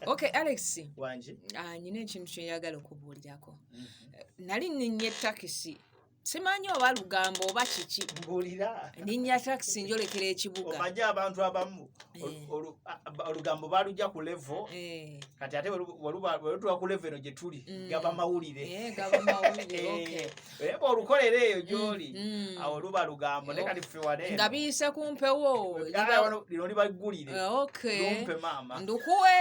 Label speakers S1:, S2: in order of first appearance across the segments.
S1: ok alex
S2: ah,
S1: nyina ekintu
S2: kyeyagala okubuulirako mhm. nali ninya etakisi simanyi oba lugambo oba kiki ninya
S1: takisi
S2: njolekera ekibugaomanyi abantu abamu
S1: eh. olugambo balugya ku levo eh. kati ate welutuwa ku levo eno gyetuli gaba mawulire
S2: Eh, olukolera eyo mm,
S1: gyoli mm. awo luba lugambo naye kati fewale nga biyise ku
S2: mpewo lino
S1: libaggulire ah, lumpe maama ndukuwe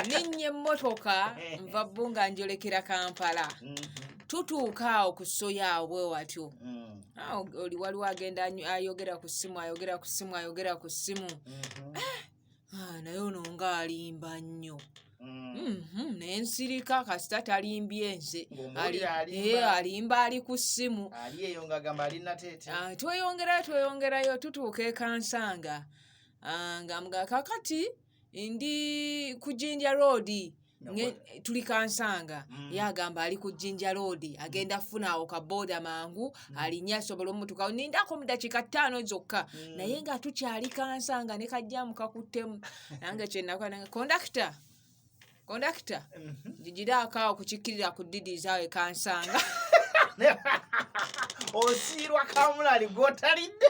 S2: ninnya emmotoka nva bbu nga njolekera kampala mm-hmm. tutuuka awo ku soya awo bwe watyo mm. ah, oli waliwo agenda ayogera ku ssimu ayogera ku ssimu ayogera ku ssimu mm-hmm. ah, Ah, naye ono nga alimba nnyo mm. mhm, naye nsirika kasita talimbye nze eh, alimba ali ku ssimu
S1: ah, tweyongerayo tweyongerayo
S2: tutuuka ekansanga ah, nga mga kakati ndi ku jinja roodi tuli kansanga mm. ye agamba ali ku jinja loodi agenda kufuna awo kabooda mangu mm. alinye asobola omutuka nindako mu dakiika ttaano zokka mm. naye nga tukyali kansanga ne kajjamu kakuttemu nange kyenakola kondakita kondakita jijiraako mhm. awo kukikkirira ku didiiza awo ekansanga
S1: osiirwa
S2: kamulali
S1: gwotalidde